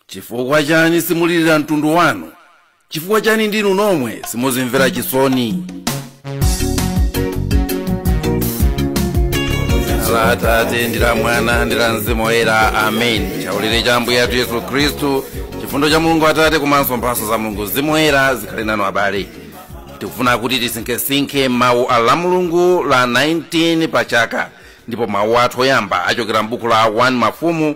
chifukwa chani simulirira mtundu wanu chifukwa chani ndinu nomwe simuzimvera chisoni dzina la atate ndi la mwana ndi la mzimu woyera amen chaulire cha ambuye athu yesu khristu chifundo cha mulungu atate komanso mphatso za mulungu mzimu woyera zikhale nanu abale tikufuna kuti tisinkhesinkhe mawu a lamulungu la 19 pa chaka ndipo mawu athu oyamba achokera m'buku la 1 mafumu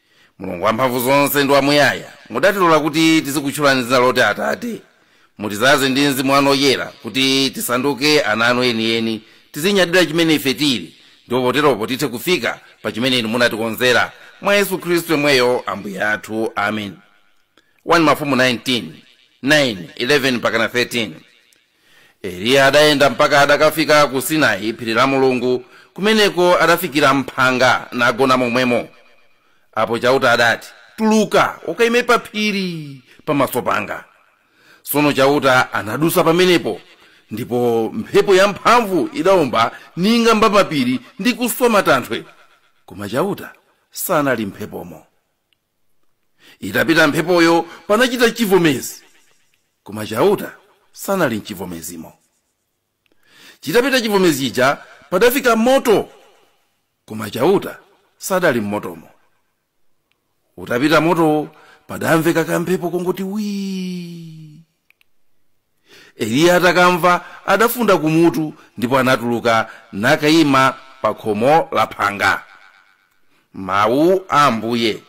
mulungu wamphamvu zonse ndi wamuyaya mudatilola kuti tizikutchulani dzina loti atate mutidzaze ndi mzimu wanu oyera kuti tisanduke ana anu enieni tizinyadira chimene ife tili ndipo poteropo tithe kufika pa chimene inu munatikonzera mwa yesu khristu yemweyo ambuye athu amen 1 mafumu 19 9 11 mpakana 13 eliya adayenda mpaka adakafika ku sinai phiri la mulungu kumeneko adafikira mphanga nagona momwemo apo chauta adati tuluka ukaime pa phiri pamaso panga tsono chauta anadusa pamenepo ndipo mphepo yamphamvu idaomba ning'amba mapiri ndi kuswa matanthwe koma chauta sanali mumphepomo itapita mphepoyo panachita chivomezi koma chauta sanali mchivomezimo chitapita chivomezi chija padafika moto koma chauta sadali mmotomo utapita motowo padamveka kamphepo kongoti wii eliya atakamva adafunda kumutu ndipo anatuluka nakayima pa khomo la phanga mawu a ambuye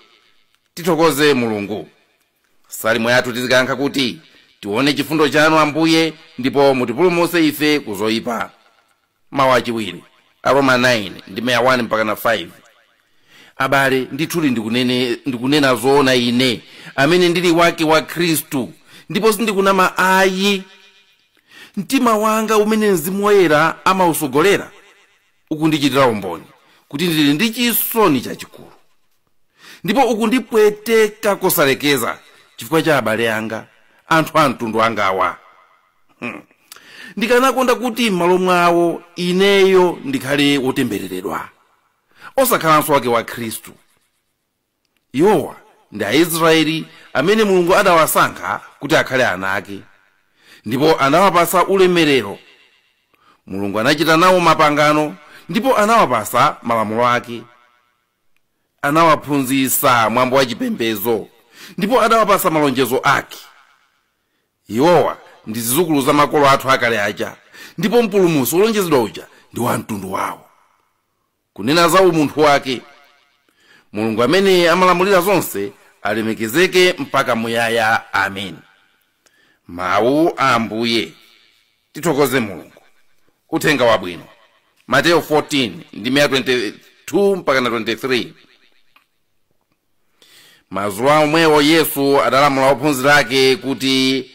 tithokoze mulungu salimo yathu tizikayankha kuti tione chifundo chanu ambuye ndipo mutipulumutse ife ku zoyipa Mau achiwiri, Aroma 9 ndime ya 1 mpakana 5. Abale, ndithudi ndikunena zoona ine, amene ndili wake wa Khristu, ndipo sindikunama ayi. Mtima wanga umene Mzimu Woyera amausogolera ukundichitira umboni kuti ndili ndi chisoni chachikulu, ndipo ukundipweteka kosalekeza chifukwa cha abale anga, anthu a mtundu wangawa. ndikanakonda kuti m'malo mwawo ineyo ndikhale wotembereredwa osakhalanso wake wa khristu iwowa ndi aisraeli amene mulungu adawasankha kuti akhale ana ake ndipo anawapasa ulemerero mulungu anachita nawo mapangano ndipo anawapasa malamulo ake anawaphunzitsa mwambo wa chipembedzo ndipo adawapasa malonjezo ake iwowa ndi zizukulu za makolo athu akale aja ndipo mpulumusi wolonjezedwa uja ndi wa mtundu wawo kunena za umunthu wake mulungu amene amalamulira zonse alemekezeke mpaka muyaya amen mawu a ambuye tithokoze mulungu uthenga wabwino mateyo 14 ndime 22 mpaka 33 madzulo omwewo yesu adalamula ophunzira ake kuti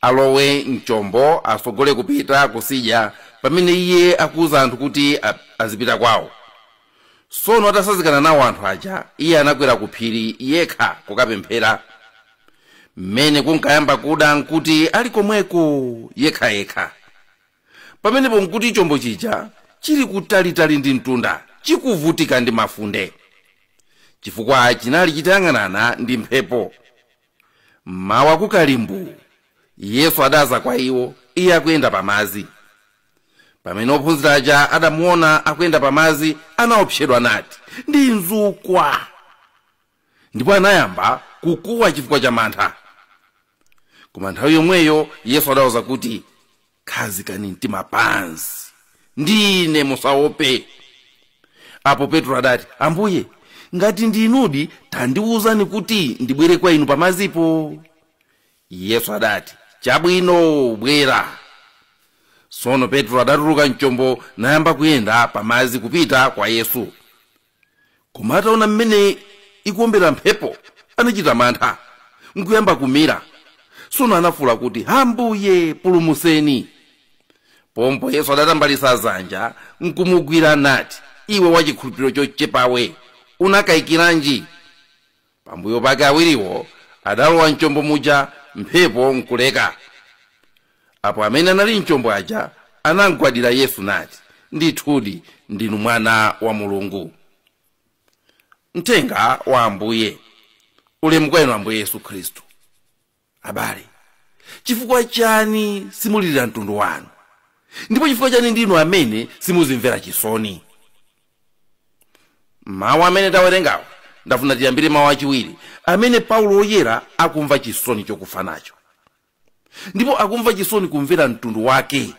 alowe mchombo asogole kupita kusidya pamene iye akuwuza anthu kuti azipita kwawo sono atasazikana nawo anthu aja iye anakwera ku phiri yekha kukapemphera mmene kunkayamba kuda nkuti ali komweko yekhayekha pamenepo nkuti chombo chija chili kutalitali ndi mtunda chikuvutika ndi mafunde chifukwa chinali chitayang'anana ndi mphepo mmawa kukalimbu yesu adaza kwa iwo iye akuyenda pamazi pamene ophunzira aja adamuona akuyenda pamazi anaopsedwa nati ndi mzukwa ndipo anayamba kukuwa chifukwa cha mantha koma nthawi yomweyo yesu adawauza kuti khazikani mtima pansi ndine musaope apo petro adati ambuye ngati ndinudi tandiwuzani kuti ndibwere kwa inu pamazipa yesu adati chabwino bwera sono petro adatuluka mchombo nayamba kuyenda pamazi kupita kwa yesu koma ataona mmene ikuombera mphepo anachita mantha nkuyamba kumira tsono anafuula kuti ambuye pulumuseni pompo yesu adatambalitsa dzanja nkumugwira nati iwe wachikhulupiriro chochepawe unakayikiranji pambuyo pake awiriwo adalowa mchombo muja mphepo nkuleka apo amene anali mchombo aja anamgwadira yesu nati ndithudi ndinu mwana wa mulungu uthenga wa ambuye ulemu kwa inu ambuye yesu khristu abale chifukwa chani simulilira mtundu wanu ndipo chifukwa chani ndinu amene simuzimvera chisoni mawu amene tawerengawo ndafuna tiyambire mawu achiwiri amene paulo woyera akumva chisoni chokufa nacho ndipo akumva chisoni kumvera mtundu wake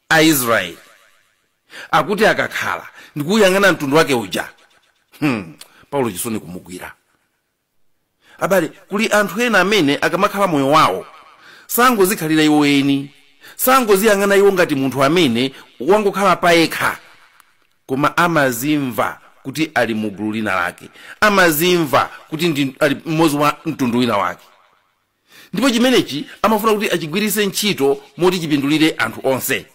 aisraeli akuti akakhala ndikuuyang'ana mtundu wake uja paulo chisoni kumugwira abale kuli anthu ena amene akamakhala moyo wawo sangozikhalira iwo eni sangoziyang'ana iwo ngati munthu amene wangokhala payekha koma amazimva kuti ali mu gulu lina lake amazimva kuti ali mmodzi wa mtundu wina wake ndipo chimenechi amafuna kuti achigwiritse ntchito moti chipindulire anthu onse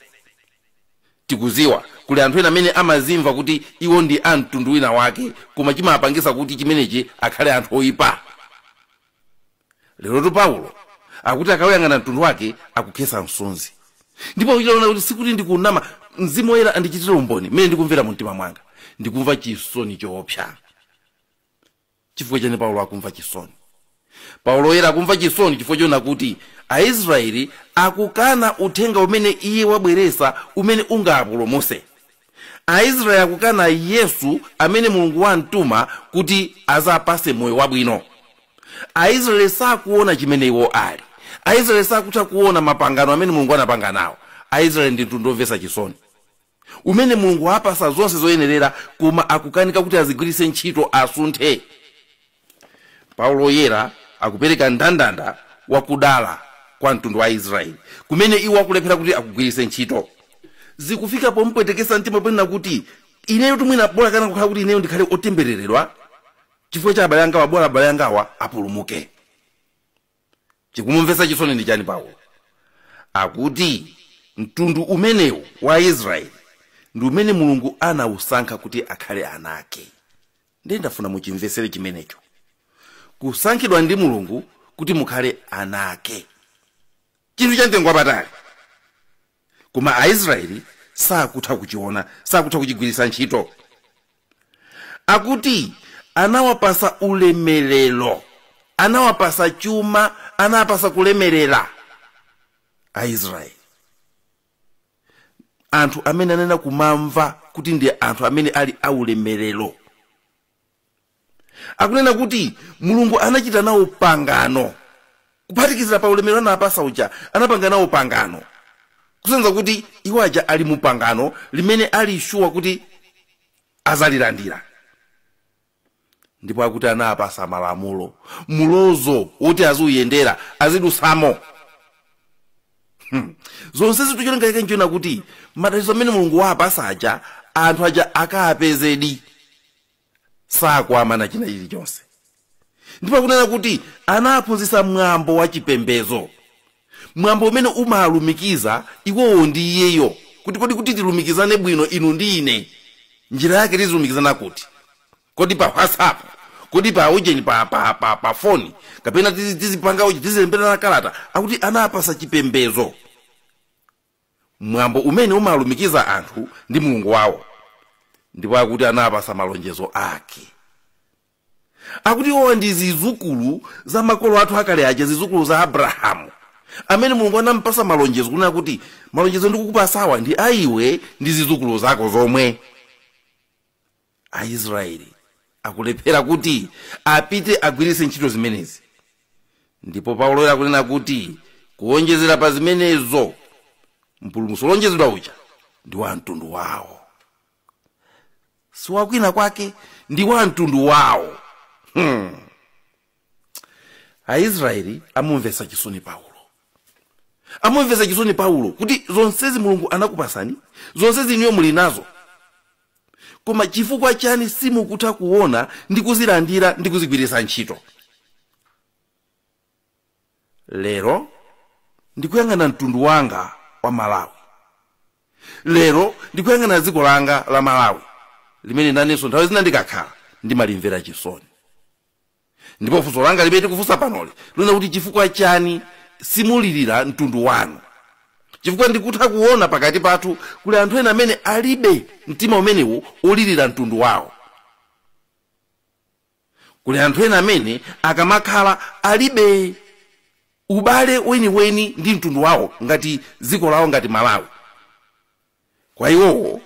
tikuziwa kuli anthu ena amene amazimva kuti iwo ndi a mtundu wina wake koma chimapangisa kuti chimenechi akhale anthu oyipa lerotu paulo akuti akawuyang'ana mtundu wake akukhesa misozi ndipo kuchita kuona kuti sikuti ndikunama mzimu woyera andichitire umboni mmene ndikumvera mu mtima mwanga ndikumva chisoni choopsa chifukwa chani paulo akumva chisoni paulo woyera akumva chisoni chifukwa choona kuti aisraeli akukana uthenga umene iye wabweresa umene ungapulumuse aisraeli akukana yesu amene mulungu wamtuma kuti azapase moyo wabwino aisraeli sakuona chimene iwo ali aisraeli sakutha kuona mapangano amene mulungu anapanga nawo aisraeli ndi mtundu womvesa chisoni umene mulungu wapasa zonse zoyenerera koma akukanika kuti azigwiritse ntchito asunthe paulo woyera akupereka ndandanda wakudala kwa mtundu wa israeli kumene iwo akulephera kuti akugwiritse ntchito zikufika pompwetekesa mtima ponena kuti ineyo tu mwina bola kanakukhala kuti ineyo ndikhale otembereredwa chifukwa cha abale angawa bola abale angawa apulumuke chikumumvetsa chisoni ndi chani paulo akuti mtundu umenewu wa israeli ndi umene mulungu anawusankha kuti akhale ana ake ndiye ndifuna muchimvetsere chimenecho kusankhidwa ndi mulungu kuti mukhale ana ake chinthu cha mtengo wapatali koma aisraeli sakutha kuchiona sakutha kuchigwiritsa ntchito akuti anawapasa ulemerero anawapasa chuma anawapasa kulemerera aisraeli anthu amene anena kumamva kuti ndi anthu amene ali aulemerero akunena kuti mulungu anachita nawo pangano kuphatikizira pa ulemerero anapasa uja anapanga nawo pangano kusonyeza kuti iwo aja ali mu pangano limene ali shuwa kuti azalilandira ndipo akuti anapasa malamulo mulozo woti aziuyendera azidusamo hmm. zonse zitu cholinga chake nchonena kuti madalitso amene mulungu wapasa aja anthu aja akapezedi sakuwamana china chilichonse ndipo akunena kuti anaphunzitsa mwambo wa chipembedzo mwambo umene umalumikiza iwowo ndi iyeyo kuti kodi kuti tilumikizane bwino inu ndi ine njira yake tizilumikizana kuti kodi pa whatsapp kodi pa ujeni pa, pa, pa, pa foni kapena tizi- tizipanga uji tizilemberana kalata akuti anapasa chipembedzo mwambo umene umalumikiza anthu ndi mulungu wawo ndipo akuti anapasa malonjezo ake akuti iwowa ndi zizukulu za makolo athu akale aja zizukulu za abrahamu amene mulungu anampasa malonjezo kunena kuti malonjezo ndikukupatsawa ndi aiwe ndi zizukulu zako zomwe aisraeli akulephera kuti apite agwiritse ntchito zimenezi ndipo paulo akunena kuti kuwonjezera pa zimenezo mpulumutsi wolonjezedwa uja ndi wa mtundu wawo si wakwina kwake ndi wa mtundu wawo hmm. aisraeli amumvetsa chisoni paulo amumvetsa chisoni paulo kuti zonsezi mulungu anakupasani zonsezi inuyo muli nazo koma chifukwa chani simukutha kuona ndi kuzilandira ndi kuzigwiritsa ntchito lero ndikuyang'ana mtundu wanga wa malawi lero ndikuyang'ana dziko langa la malawi limene nanenso nthawi zina ndikakhala ndimalimvera chisoni ndipo funso langa limene ndikufunsa panoli likunena kuti chifukwa chani simulirira mtundu wanu chifukwa ndikutha kuona pakati pathu kuli anthu ena amene alibe mtima umenewu olirira mtundu wawo kuli anthu ena amene akamakhala alibe ubale weniweni ndi mtundu wawo ngati dziko lawo ngati malawi kwa iwowo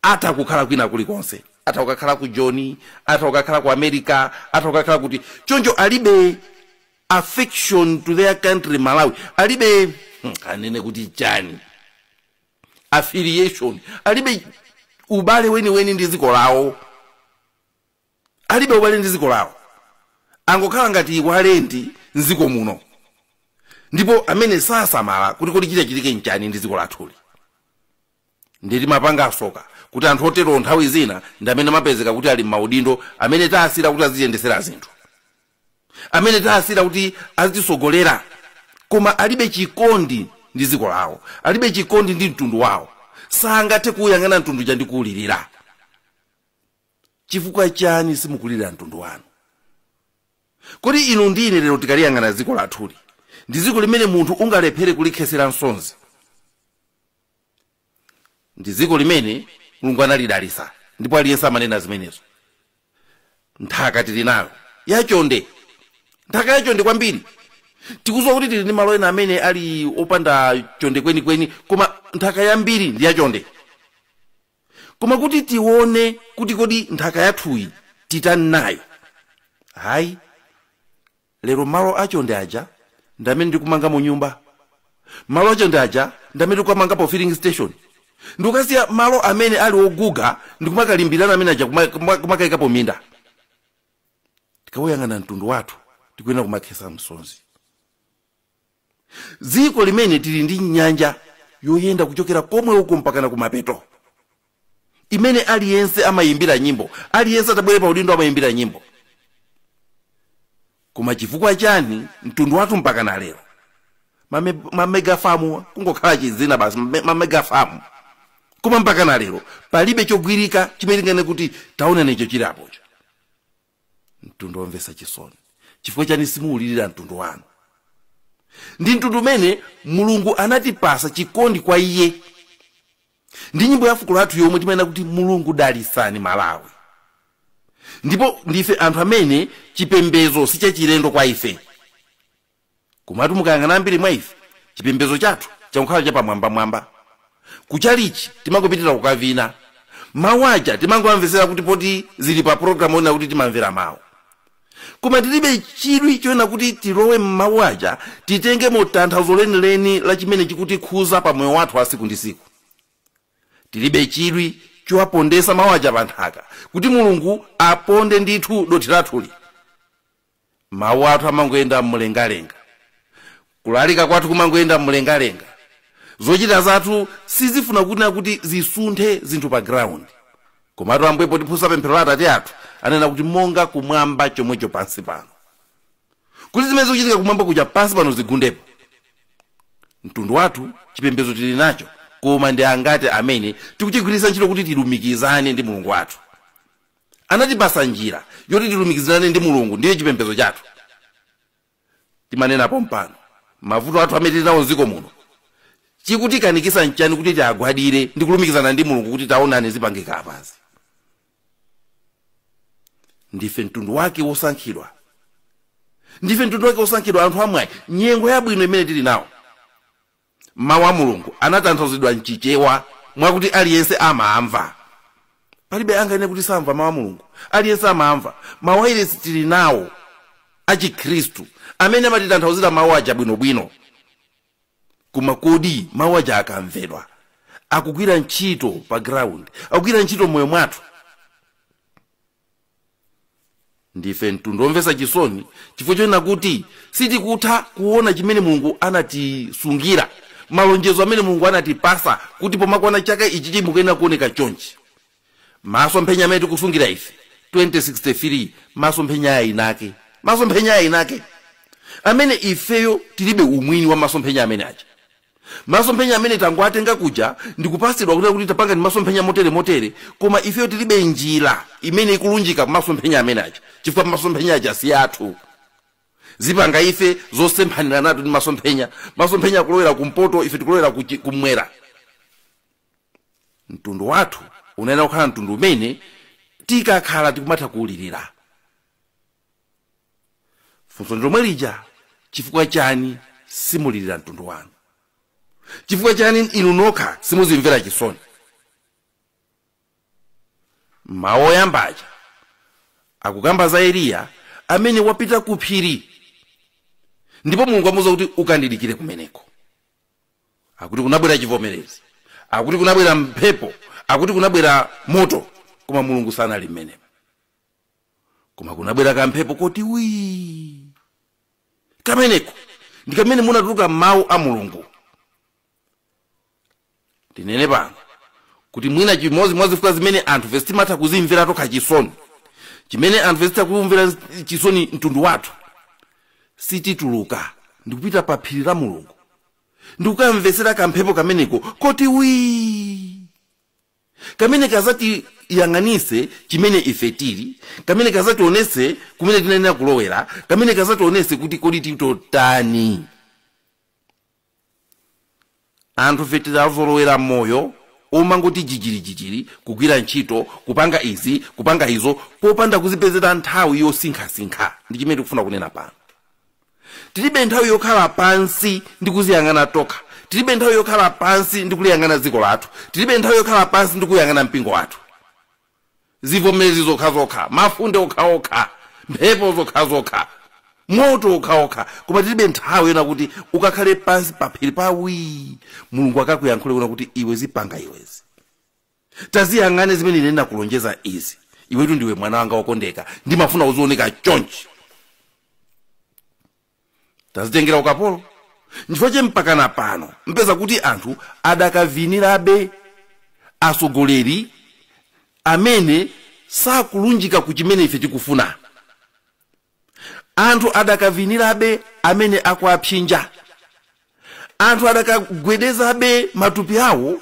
atha kukhala kwina kulikonse atha kukakhala ku joni atha kukakhala ku america atha kukakhala kuti choncho alibe affection to their country malawi alibe hmm, anene kuti chani affiliation alibe ubale weniweni ndi dziko lawo alibe ubale ndi dziko lawo angokhala ngati alendo mdziko muno ndipo amene sasamala kuti kodi chitachitike nchani ndi dziko lathuli ndiye timapanga tsoka kuti anthu otero nthawi zina ndi amene amapezeka kuti ali m'maudindo amene taasira kuti aziyendetsera zinthu amene taasira kuti azitisogolera koma alibe chikondi ndi dziko lawo alibe chikondi ndi mtundu wawo sangathe kuwuyang'ana mtundu uja ndi kuwulirira chifukwa chani simukulirira mtundu wanu kodi inu ndi ine lero tikaliyang'ana dziko lathuli ndi dziko limene munthu ungalephere kulikhetsera msozi ndi dziko limene mulungu analidalitsa ndipo aliyense amanena zimenezo nthaka tili nayo yachonde nthaka yachonde kwambiri tikudziwa kuti tili ndi malo ena amene ali opanda chonde kwenikweni koma nthaka yambiri ndi yachonde koma kuti tione kuti kodi nthaka yathuyi titani nayo hayi lero malo achonde aja ndi amene tikumangamo nyumba malo achonde aja ndi amene tikukamangapo filling station ndikukasiya malo amene ali oguga ndikumakalimbirana amene aja kuma- kuma- kumakayikapo minda tikawuyang'ana mtundu wathu tikuyenera kumakhesa msonzi dziko limene tili ndi nyanja yoyenda kuchokera komwe uko mpakana kumapeto imene aliyense amayimbira nyimbo aliyense atabwere pa udindo amayimbira nyimbo koma chifukwa chani mtundu wathu mpakana lero mame- mamegafamu kungokhala chizina basi mame- mamegafamu koma mpakana lero palibe chogwirika chimene tinganene kuti taonanicho chilipocho mtundu womvetsa chisoni chifukwa chani simuwulirira mtundu wanu ndi mtundu umene mulungu anatipasa chikondi kwa iye ndi nyimbo ya fuko lathu yomwe timanena kuti mulungu dalitsani malawi ndipo ndife anthu amene chipembedzo si chachilendo kwa ife komatu mukayang'ana ambiri mwa ife chipembedzo chathu changokhala chapamwambamwamba kuchalichi timangopitira kukavina mawu aja timangowamvetsera kuti poti zili pa pologalamu onena kuti timamvera mawu koma tilibe chidwi chonena kuti tilowe m'mawu aja titengemo tanthauzo lenileni la chimene chikutikhuza pa moyo wathu wa siku ndi siku tilibe chidwi chowapondesa mawu aja pa nthaka kuti mulungu aponde ndithu dothi lathuli mawu athu amangoyenda m'mlengalenga kulalika kwathu kumangoyenda m'mlengalenga zochita zathu sizifuna kunena kuti zisunthe zinthu pa ground komatu ambuye potiphunzitsa pemphero la atate athu ananena kuti monga kumwamba chomwecho pansi pano kuti zimene zikuchitika kumwamba kuja pansi pano zigundepo mtundu wathu chipembedzo tili nacho koma ndi angati amene tikuchigwiritsa ntchito kuti tilumikizane ndi mulungu wathu anatipasa njira yoti tilumikizane ndi mulungu ndiyo chipembedzo chathu timanena pompano mavuto athu amene tili nawo mdziko muno chikutikanikisa nchani kuti tiagwadire ndi kulumikizana ndi mulungu kuti taonani zipangike apazi ndife mtundu wake wosankhidwa ndife mtundu wake wosankhidwa anthu amwayi nyengo yabwino imene tili nawo mawu a mulungu anatanthauzidwa mchichewa mwakuti aliyense amamva palibe anganene kuti samva mawu a mulungu aliyense amamva mawairesi tili nawo achikhristu amene amatitanthauzira mawu aja bwinobwino koma kodi mawu aja akamvedwa akugwira ntchito pa ground akugwira ntchito mmoyo mwathu ndife mtundu womvetsa chisoni chifukwa chonena kuti sitikutha kuona chimene mulungu anatisungira malonjezo amene mulungu anatipasa kuti pomakwana chaka ichi ichi mukuyenera kuoneka chonchi maso mphenya amene tikusungira ife 2063 maso mphenya ayinake maso mphenya ayinake amene ifeyo tilibe umwini wa maso mphenya amene aja masomphenya amene tangowatenga kuja ndikupatsidwa kuti kuti tapangani masomphenya motere motere koma ifeyo tilibe njira imene ikulunjika kumasomphenya amene aja chifukwa masomphenya aja si athu zipanga ife zosemphanirana tu ndi masomphenya masomphenya akulowera kumpoto ife tikulowera kuchi- kumwera mtundu wathu unayenera kukhala mtundu umene tikakhala tikumatha kuwulirira funso ndilomwe lija chifukwa chani simulilira mtundu wanu chifukwa chani inu nokha simuzimvera chisoni mawu oyamba aja akukamba za eliya amene wapita ku phiri ndipo mulungu amuuza kuti ukandidikire kumeneko akuti kunabwera chivomerezi akuti kunabwera mphepo akuti kunabwera moto koma mulungu sanali mmenemo koma kunabwera kamphepo koti wii kameneko ndi kamene munatuluka mawu a mulungu ndinene pano kuti mwina chimodzi mwa zifukwa zimene anthu fe sitimatha kuzimvera tokha chisoni chimene anthu fe sitikumvera chisoni mtundu wathu sitituluka ndikupita pa phiri la mulungu ndikukamvetsera kamphepo kameneko koti wii kamene kazatiyang'anitse chimene ife tili kamene kazationese kumene tinayenera kulowera kamene kazationese kuti kodi titotani anthu fe tidazolowera moyo omangoti jijirijijiri kugwira ntchito kupanga izi kupanga izo popanda kuzipezera nthawi yosinkhasinkha ndi chimene tikufuna kunena pano tilibe nthawi yokhala pansi ndi kuziyang'ana tokha tilibe nthawi yokhala pansi ndi kuliyang'ana dziko lathu tilibe nthawi yokhala pansi ndi kuyang'ana mpingo wathu zivomezi zokhazokha mafunde okhaokha mphepo zokhazokha moto okhaokha koma tilibe nthawi yonena kuti ukakhale pansi paphiri pa wii mulungu akakuyankhule kunena kuti iwe zipanga iwezi taziyang'ane zimene ine ndinakulonjeza izi iwetu ndiwe mwana wanga wokondeka ndimafuna uzioneka chonchi tazitengera ukapolo nchifukwa che mpakana pano mupeza kuti anthu adakavinirabe atsogoleri amene sakulunjika ku chimene ife tikufuna anthu adakavinirabe amene akuwapsinja anthu adakagwedezabe matupi awo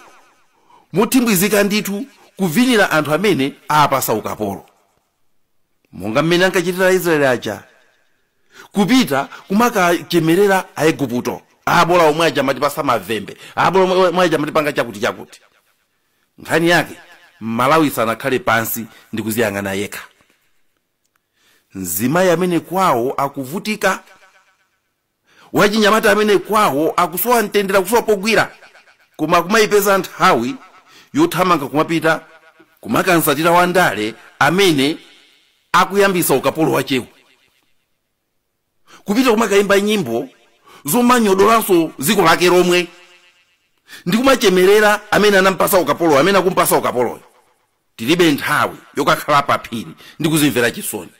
mothimbwizika ndithu kuvinira anthu amene aapasa ukapolo monga mmene ankachitira aisraeli aja kupita kumakachemerera aiguputo abola omwe aja amatipasa mavwende abola omwe- omwe aja amatipanga chakuti chakuti nkhani yake mmalawi sanakhale pansi ndi kuziyang'ana yekha mzimayi amene kwawo akuvutika wachinyamata amene kwawo akusowa mtendere akusowa pogwira koma akumayipeza nthawi yothamanga kumapita kumakamsatira wandale amene akuyambisa ukapolo wachewo kupita kumakayimba nyimbo zomanyodolanso dziko lake lomwe ndi kumachemerera amene anampasa ukapoloyo amene akumpasa ukapoloyo tilibe nthawi yokakhala paphiri ndi kuzimvera chisoni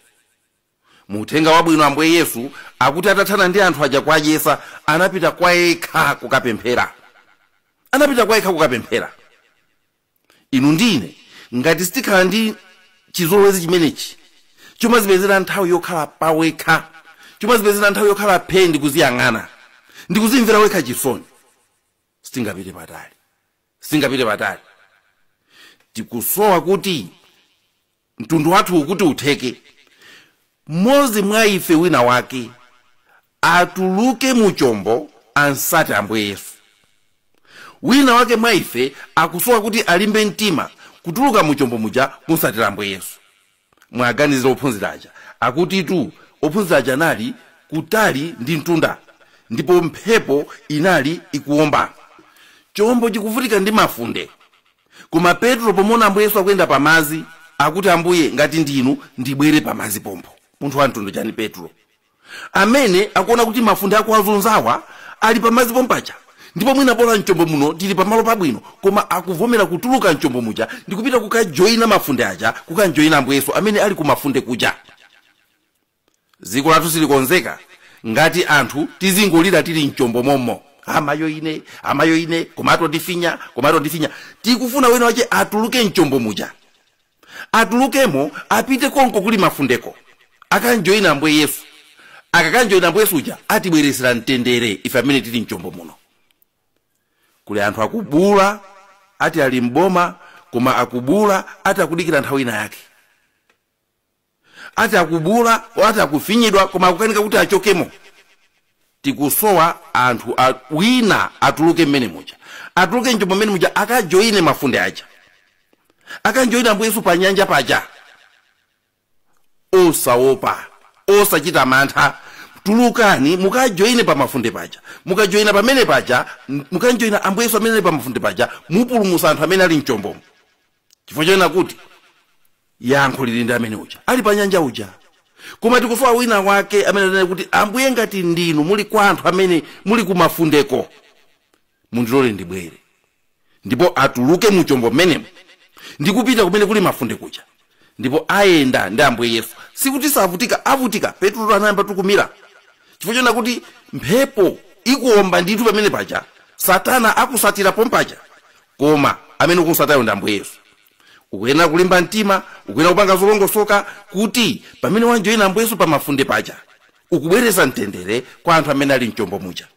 mu uthenga wabwino ambuye yesu akuti atathana ndi anthu aja kuwadyesa anapita kwa yekha kukapemphera anapita kwa yekha kukapemphera inu ndi ine ngati sitikhala ndi chizolowezi chimenechi chomazipezera nthawi yokhala pawekha chomazipezera nthawi yokhala phee ndi kuziyang'ana ndi kuzimvera wekha chisoni sitingapite patali sitingapite patali tikusowa kuti mtundu wathu kuti utheke mmodzi mwa ife wina wake atuluke mu chombo amsate ambuye yesu wina wake mwa ife akusowa kuti alimbe mtima kutuluka mu chombo muja kumsatira ambuye yesu muwaganizire ophunzira aja akutitu ophunzira aja anali kutali ndi mtunda ndipo mphepo inali ikuwomba chombo chikuvutika ndi mafunde Koma Petro pomuona Ambuye Yesu akuyenda pa madzi, akuti, Ambuye, ngati ndinu, ndibwere pa madzi pompo. Munthu wa mtundu chani Petro? Amene akuona kuti mafunde akuwazunzawa ali pa madzi pompaja. Ndipo mwina bola mchombo muno tili pamalo pabwino, koma akuvomera kutuluka mchombo muja ndikupita kukajoina mafunde aja, kukamjoina Ambuye Yesu amene ali ku mafunde kuja. dziko lathu silikonzeka ngati anthu tizingolira tili mchombo mommo amayo ine amayo ine koma akutifinya koma akutifinya tikufuna wina wache atuluke mchombo muja atulukemo apite konko kuli mafundeko akamjoyine ambuye yesu akakamjoyina ambuye yesu uja atibweresera mtendere ife amene tili mchombo muno kuli anthu akubula ati ali mboma koma akubula ati akudikira nthawi ina yake ati akubuula ati akufinyidwa koma akukanika kuti achokemo tikusowa anthu a, wina atuluke mmene muja atuluke mchombo mmene muja akajoine mafunde aja akamjoina ambuye yesu pa nyanja paja osaopa osachita mantha tulukani mukajoine pa mafunde paja mukajoina pamene paja m- mukamjoina ambuye yesu amene ali pa mafunde paja mupulumusa anthu amene ali mchombomo chifukwa chonena kuti yankho lili ndi amene uja ali pa nyanja uja koma tikusowa wina wake amene anene kuti ambuye ngati ndinu mundilankhule amene muli kumafundeko mundilole ndibwere ndipo atuluke mu chombo mmenemo ndi kupita kumene kuli mafunde kuja ndipo ayenda ndi ambuye yesu sikuti savutika avutika petulo anayamba kumira chifukwa chonena kuti mphepo ikuomba ndithu pamene paja satana akumsatira pompaja koma amene ukumsatayo ndi ambuye yesu ukuyenera kulimba mtima ukuyenera kupanga zolongosoka kuti pamene wamjoyina ambuye yesu pamafunde paja ukubwereza mtendere kwa anthu amene ali mchombo muja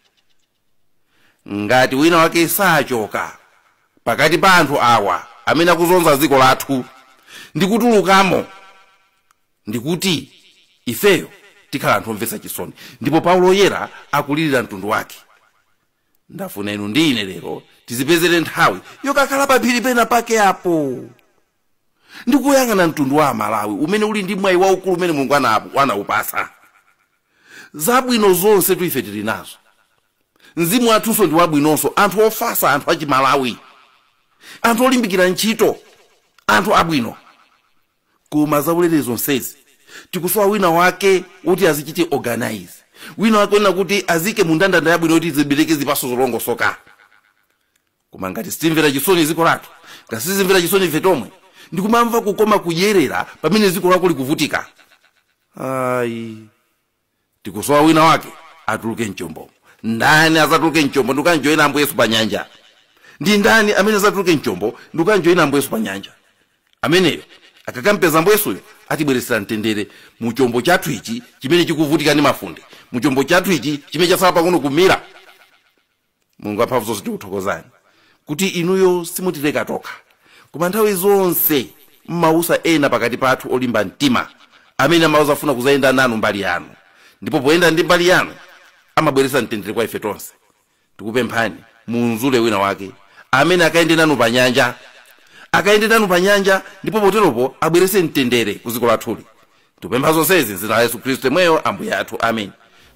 ngati wina wake sachoka pakati pa anthu awa amene akuzunza dziko lathu ndikutulukamo ndi kuti ifeyo tikhala anthu omvetsa chisoni ndipo paulo woyera akulirira mtundu wake ndafuna inu ndi ine lero tizipezere nthawi yokakhala paphiri pena pake apo ndikuyang'ana mtundu wa amalawi umene uli ndi mwayi waukulu umene mulungu anapu- anaupasa zabwino zonsetu ife tili nazo mzimu wathunso ndi wabwinonso anthu ofasa anthu achimalawi anthu olimbikira ntchito anthu abwino koma zaulere zonsezi tikusowa wina wake woti azichite organize wina wake wonena kuti aziike mu ndandanda yabwino yoti zibereke zipaso zolongosoka koma ngati sitimvera chisoni ziko lathu ngati sitizimvera chisoni ife tomwe ndikumamva kukoma kudyerera pamene ziko lako likuvutika ayi tikusowa wina wake atuluke mchombomo ndani azatuluke mchombo ndikukamjoyina ambuye yesu pa nyanja ndi ndani amene azatuluke mchombo ndikukamjoyina ambuye yesu pa nyanja ameneyo akakampeza ambuye yesuyo atibweretsera mtendere mu chombo chathu ichi chimene chikuvutika ndi mafunde mu chombo chathu ichi chimene chatsala pang'ono kumira mulungu amphamvu zonse tikuthokozani kuti inuyo simutileka tokha koma nthawi zonse mumautsa ena pakati pathu olimba mtima amene amauza afuna kuzayenda nanu mbali yanu ndipo poyenda ndi mbali yanu amabweretsa mtendere kwa ife tonse tikupemphani mumzule wina wake amene akayende nanu pa nyanja akayende nanu pa nyanja ndipo poteropo abweretse mtendere ku dziko lathuli tikupempha zonsezi m'dzina la yesu khristu yemweyo ambuye athu amen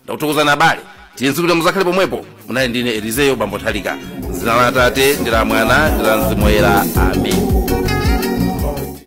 ndakuthokozani abale the next time muzakhale pomwepo munali ndine elizeyo bambo thalika m'dzina la atate ndi la mwana ndi la mzimu woyera amen